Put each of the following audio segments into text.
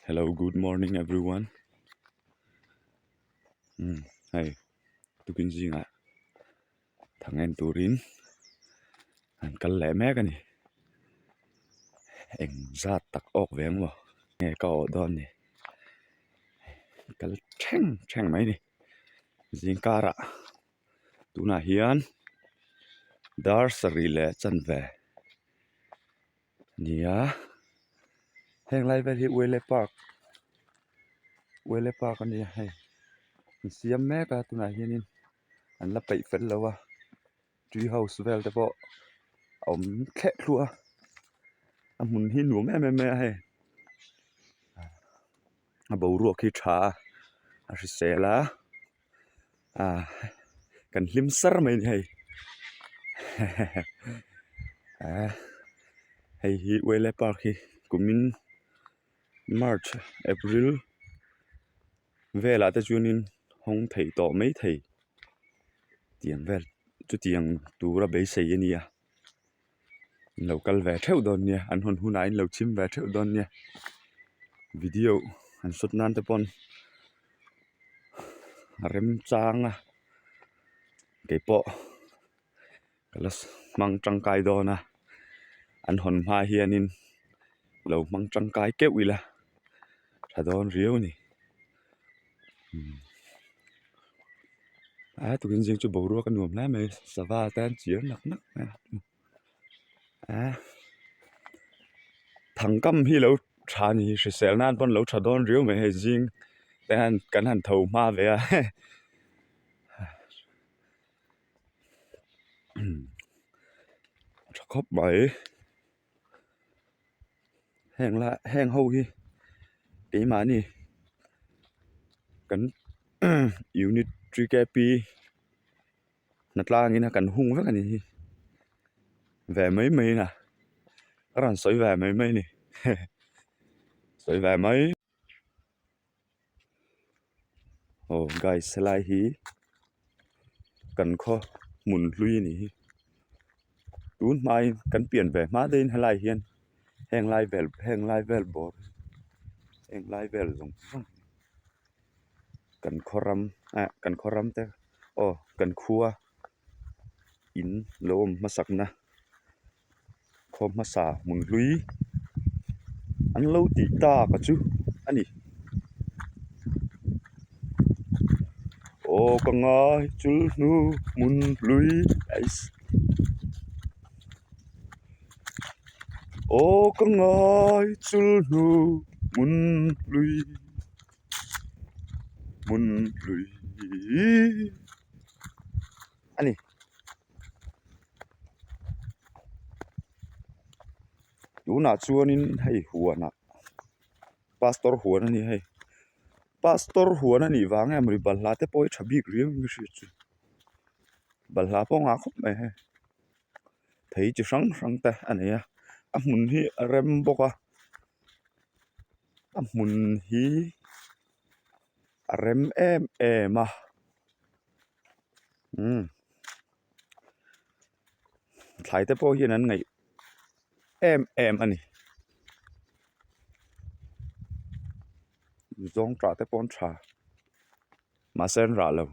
hello good morning everyone umm hei tukin zingah thang en turin han kal leh mek a ni eng zat tak awk ve maw nge ka awh dawn ni kal ṭheng ṭheng mai a ni zing karah tunah hian dar sarih leh chanve. nia heng lai vel hi uele park uele park a nia hei an siam mek a tunah hianin an la peih fel lo a tree house vel te pawh a awm thleh thluah a a hmun hi nuam em em mai a hei a boruak hi tha a a hrisel a. ah kan hlim sar mai ni hei ah hei hi uaile park hi kumin march april velah te chuanin hawng theih tawh mai thei tiang vel chutiang tura beisei a ni a. in lo kal ve theuh dawn nia an hawn hunah in lo chhim ve theuh dawn nia video han shot nan te pawn a rem chang a keipawh ka la hmang tangkai dawn a an hawn hma hianin lo hmang tangkai keuh ila tha dawn riau a ni. a turin zing chu boruak a nuam hle mai sava tan chiar nak nak mai a thang kam hi lo tha ni hrisel nan pawn lo tha dawn riau mai hei zing te hian kan han tho hma ve a tha khawp mai. heng la heng ho hi keimahni kan unit three K P hnatlangin a kan hung vek a ni hi ve mai mai in a a rawn sawi ve mai mai a ni sawi ve mai. aw guys helai hi kan khaw hmun hlui a ni hi tun hmain kan pian ve hma daih in helai hian heng lai vel heng lai vel bawr heng lai vel zawng zawng kan khaw ram eh kan khaw ram te aw kan khua in lo awm hmasak na. khaw hmasa hmun hlui an lo tih ta ka chu a ni aw ka ngai chul hnu hmun hlui ais aw ka ngai chul hnu hmun hlui hmun hlui a ni. tunah chuanin hei huanah pastor huan a ni hei pastor huan a nih vang em ri balhla te pawh hi tha bik riau in ka hria chu balhla pawh a ngah khawp mai hei thei chi hrang hrang te a nei a a hmun hi a rem bawk a a hmun hi a rem em em a. umm thlai te pawh hian an ngaih em em a ni zawng tah te pawh an tha mahse an rah lo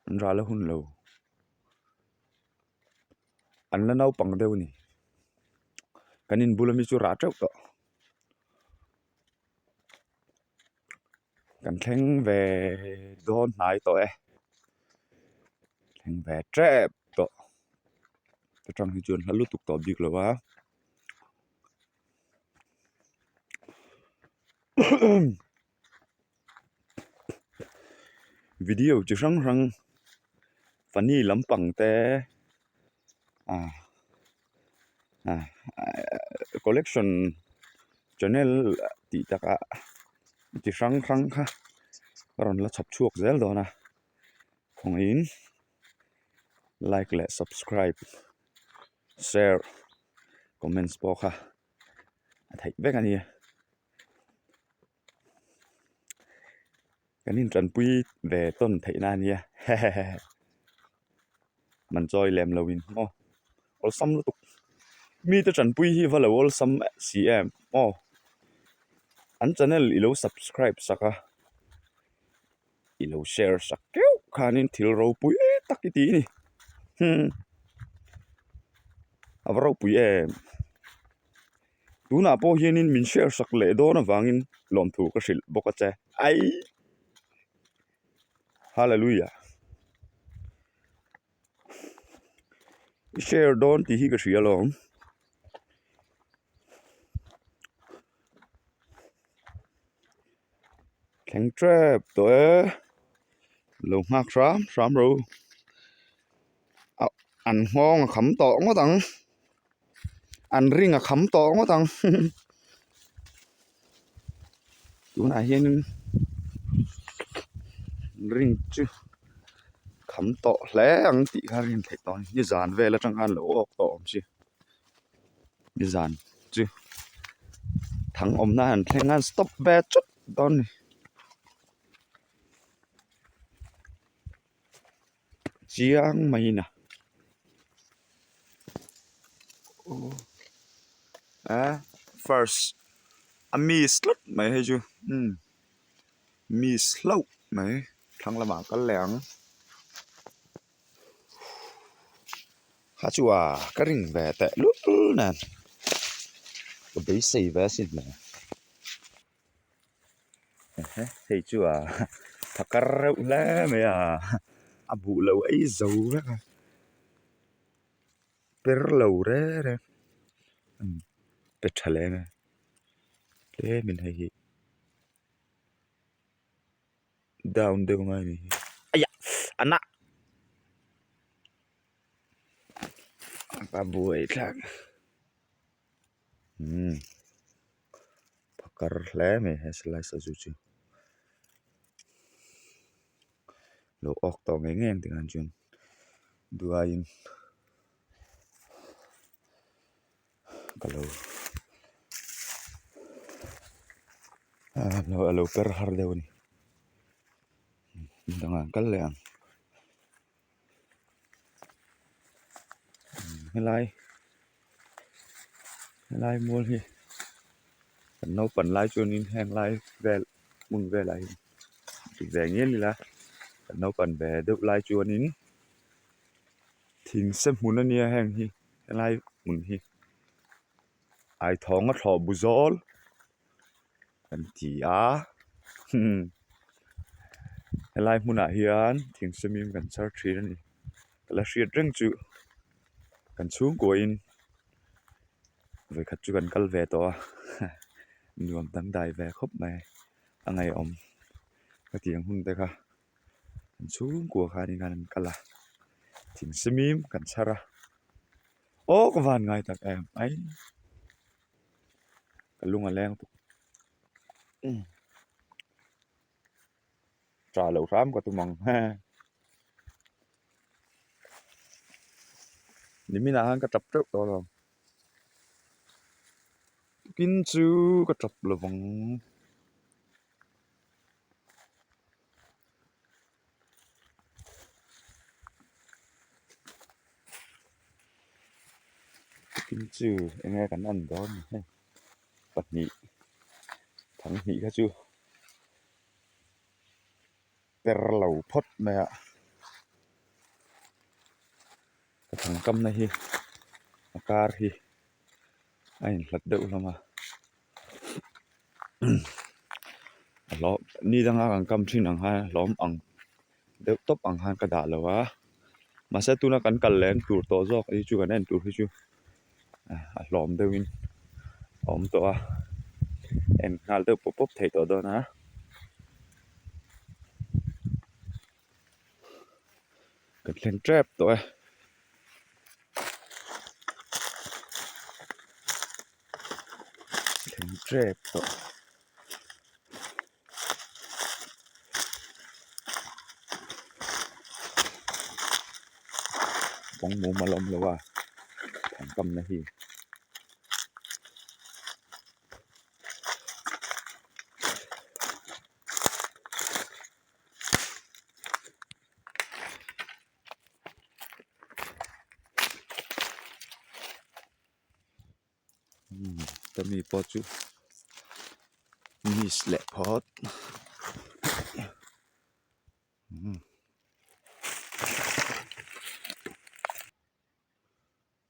an rah la hun lo an la naupang deuh a ni kan inbul ami chu rah teuh tawh. kan thleng ve dawn hnai tawh e thleng ve tep tawh ta tang hi chuan hla lutuk tawh bik lo va video chi hrang hrang funny lampang te a. ah ah collection channel tih takah chi hrang hrang kha a rawn la chhawp chhuak zel dawn a khawngaihin like leh subscribe share comments pawh kha a theih vek a ni. Kan intanpui ve tawn theihna a nia hehehehe man chawi lem lo in aw awlsam lutuk mite tanpui hi va lo awlsam si em aw an channel i lo subscribe sak a. i lo share sak keuh khanin thil ropui tak i ti i ni hum a va ropui em tunah pawh hianin min share sak leh dawn avangin lawmthu ka hrilh bawk a che ai hallelujah. i share dawn tih hi ka hria lo. Thleng tep tawh e, lo nghak hram hram ro, an nghawng a kham tawh ngawt ang. an ring a kham tawh ngawt ang tunah hianin ring chu kham tawh hle ang tih kha rin theih tawh a ni nizan vel atang khan lo awk tawh awmsi nizan chu thang awm nan an thleng nan stop ve chawp dawn a ni. chiang mai ina oh ah first a miss tlat mai hei chu umm miss hlauh mai thlang lamah a kal leh ang kha chua ka ring ve teh lul lul nen ka beisei ve si nen. ehe hei chu a tha kar reuh hle mai a a buh loh aizo vek a per lo re re umm pe tha lem e tlem in hei hi down deuh mai a ni hi aiya a na a buai thlak. umm pha kar hle a ni he slice a chu chu lo awk tawh ngei ngei ang tih khan chuan duaiin ka lo a lo per har deuh a ni a dang ang kal leh ang. helai helai mual hi kan naupang lai chuanin heng lai vel hmun velah hi ti ve ngei ni la kan naupang ve deuh lai chuanin thing se hmun a nia heng hi helai hmun hi ai thawng a thlawhbu zawl. kan ti a helai hmunah hian thing sawmin kan char thin a ni la hriat reng chu kan chhungkuahin vawikhat chu kan kal ve tawh a nuam dangdai ve khawp mai a ngaihawm hetiang hmun te kha an chhungkua khan in khan an kal a thing sawmin kan char a aw ka van ngai tak em ai. ka lung a leng tuk tra loh hram ka tum ang he nimin ah khan ka tap teuh tawh lo tukin chu ka tap lo vang. thil chu eng nge kan han dawn ni hek pahnih thang hnih kha chu per lo phawt mai a a chung kam na hi a kar hi a in hlat deuh hlawm a. hlawh ni dang a kan kam thin ang khan hlawm ang deuh tawp ang khan ka dah lo va mahse tuna kan kal leh tur tawh zawk hi chu kan en tur hi chu a hlawm deuh in a awm tawh a en nghal deuh pawp pawp thei tawh dawn a. ka thleng tep tawh e thleng tep tawh. Bawng mum a la awm lo a thleng tam na hi. mi pawh chu miss leh phawt umm.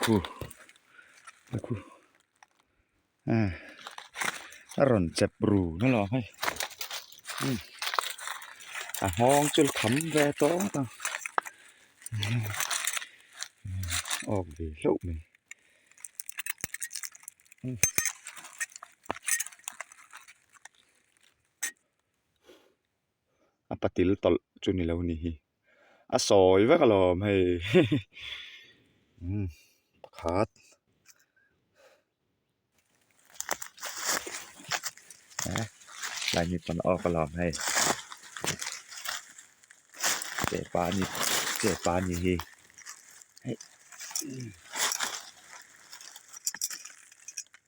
Khu khu ah a rawn chep ru mai lo hei umm a nghawng chu tham ve tawng tawng awk ve hlauh mai umm. a patil tawlh chu ni lo ni hi a sawi vek alawm hei pakhat tlai mi pawn a awk alawm hei che pa a ni che pa a ni hi hei.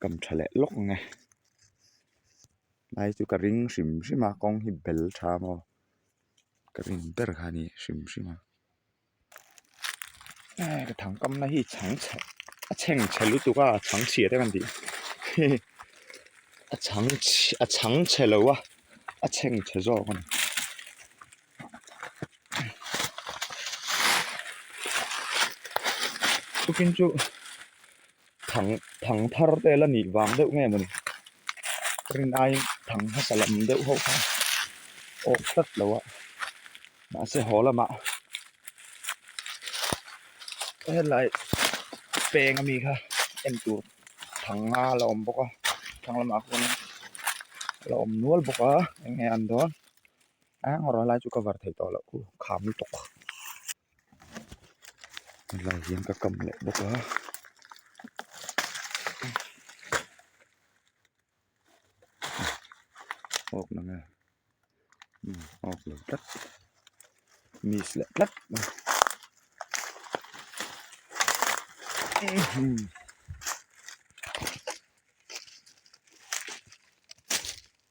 Kan tha leh lawk ang e hmai chu ka ring hrim hrim a kawng hi bel tha maw ka rin ber kha ni hrim hrim a ai ka thang kam na hi chhang chhe a chheng chhe lutuk a a chhang chhiat a kan tih a chhang chhe a chhang chhe lo a a chheng chhe zawk a ni. Tukin chu thang thang thar te la nih vang deuh nge mawni rin aiin thang hmasa lam deuh ho kha awk tlat lo a mahse haw lamah helai peng a mi kha en tur thang nga la awm bawk a thang lamah khuan a la awm nual bawk a eng nge a ni dawn. Eng rawh helai chu ka var thei tawh loh u kha mu tawh helai hian ka kam leh bawk a awk na nge umm awk lo tlat miss leh tlat umm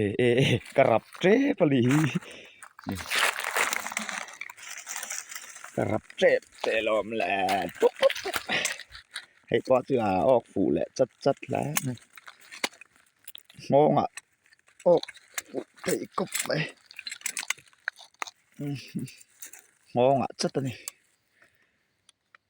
eh eh eh ka rap tep a ni hi ka rap tep teh lawm le pup pup pup hei pawh chu a awk fuh leh chat chat hle a ni nghawngah awk fuh theih khawp mai nghawngah chat a ni.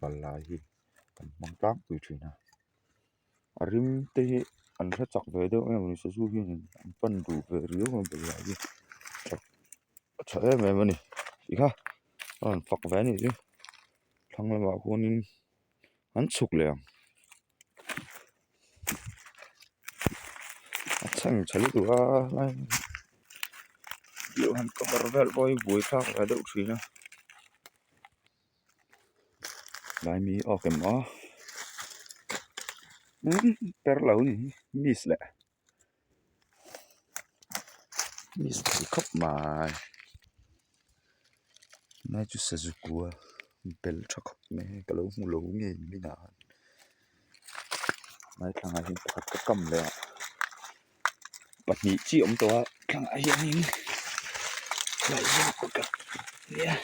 balai hi kan hmang tlakpui thin a a rim te hi an hla chak ve deuh em awni sazu hian in an pan duh ve riau mai balai hi tha a tha em em ani tikha a rawn fak ve anih chu thlang lamah khuanin an chhuk leh ang a chhan tha lutuk a tlai pawh hi buai thlak ve deuh thin a. Laimi awk em a per loh anih hi miss leh miss thei khawp mai nai chu sazi kua bel tha khawp mai ka lo hmu lo ngei midah. Hmai thlangah hian pakhat ka kam leh a, pahnih chi a awm tawh a, thlangah hianin tlai zawng a kut a nia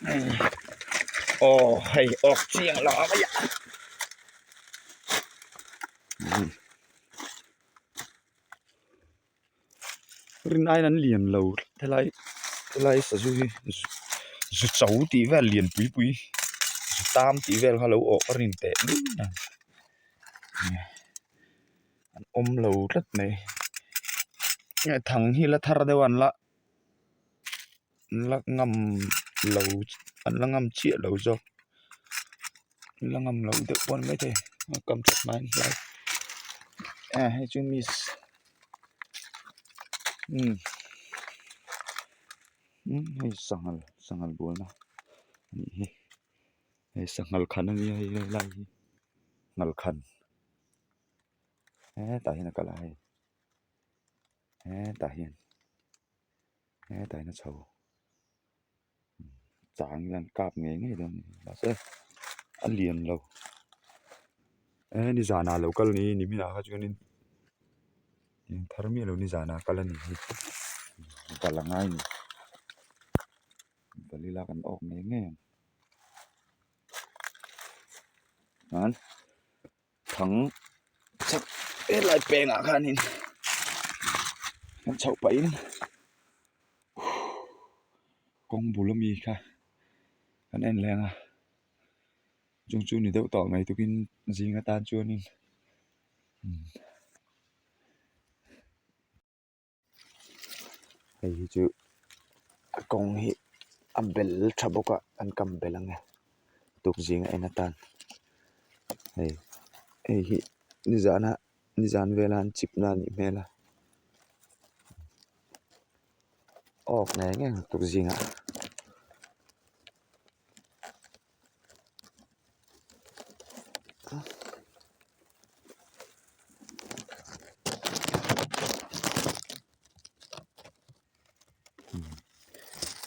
hei aw hei awk chiang loh a vaia umm. rin aina an lian lo helai helai sazu hi zu cho tih vel lian pui pui zu tam tih vel kha lo awh ka rin teh mai a an awm lo tlat mai thang hi la thar deuh an la. an la ngam lo an la ngam chiah lo zawk an la ngam lo deuh pawh a ni maithei an kam tha hnai hnai a hei chu miss umm umm hei sangha sangha buana a nih hi hei sanghal khan a nia hei lai hi nghal khan he tah hian a kal a hei he tah hian. hetaina chho chang hian kap ngei ngei dawn nih hmel mahse a lian lo eh ni zanah lo kal ni ni minah khan chuan in eng thar miah lo ni zanah kal a ni hi bal a ngai nih bal ila kan awk ngei ngei ang han-- Thang chak vel lai pengah khanin chhoh pahin kawng bul ami kha kan en leng a chung chu ni deuh tawh mai tukin zing atan chuanin umm. hei hi chu kawng hi a bel tha bawk a an kam belh ang e tukzing a en atan hei hei hi ni zan a ni zan vela an chip na a nih hmel a awk ngei ngei ang tukzingah.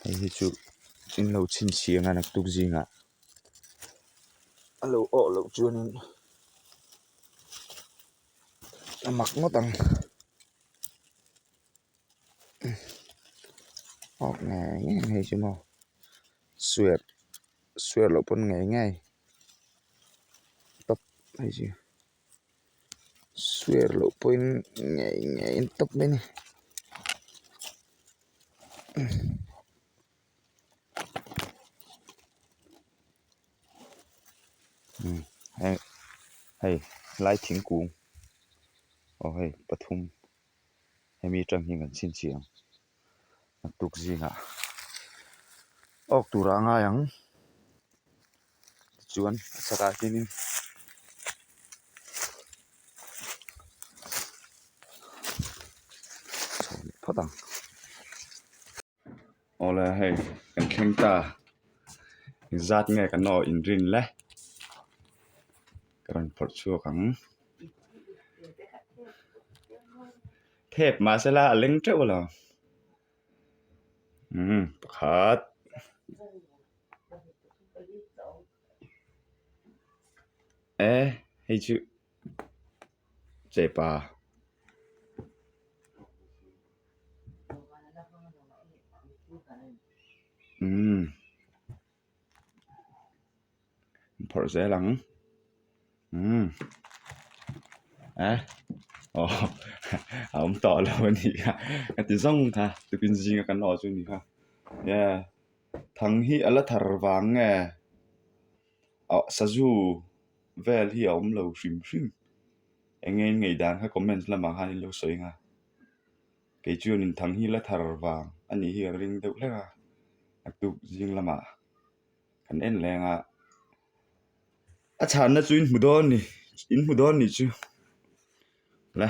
hei hi chu in lo chhin chhia nga nak tuk zing ah a lo awh loh chuan in a mak ngawt ang awk nge ngei chu maw. Swear swear loh pawn ngei ngei tawp mai chu swear loh pawhin ngei ngei tawp mai a ni umm heng hei helai thingkung aw hei pathum hemi atang hian kan chhinchhiah ang. tuk zingah awk tura a ngai ang tichuan a chhakah hianin chhawm leh phawt ang awle hei kan thleng ta zat nge kan awh in rin le ka rawn phawrh chhuak ang. Phep mahse la a leng teuh lo. Umm pakhat. Eh hei chu chepa. Umm. An phawrh zel ang umm eh aw a awm tawh lo a ni kha ka ti zawng kha tupin zing a kan awh chu a ni kha yeah thang hi a la thar vang nge ah sazu vel hi a awm lo hrim hrim enge ingaih dan kha comments lamah khan in lo sawi ang a. kei chu an in thang hi la thar vang a nih hi a ring deuh hlek a a tuk zing lamah kan en leng a a chhan na chu in hmu dawn ni in hmu dawn ni chu la.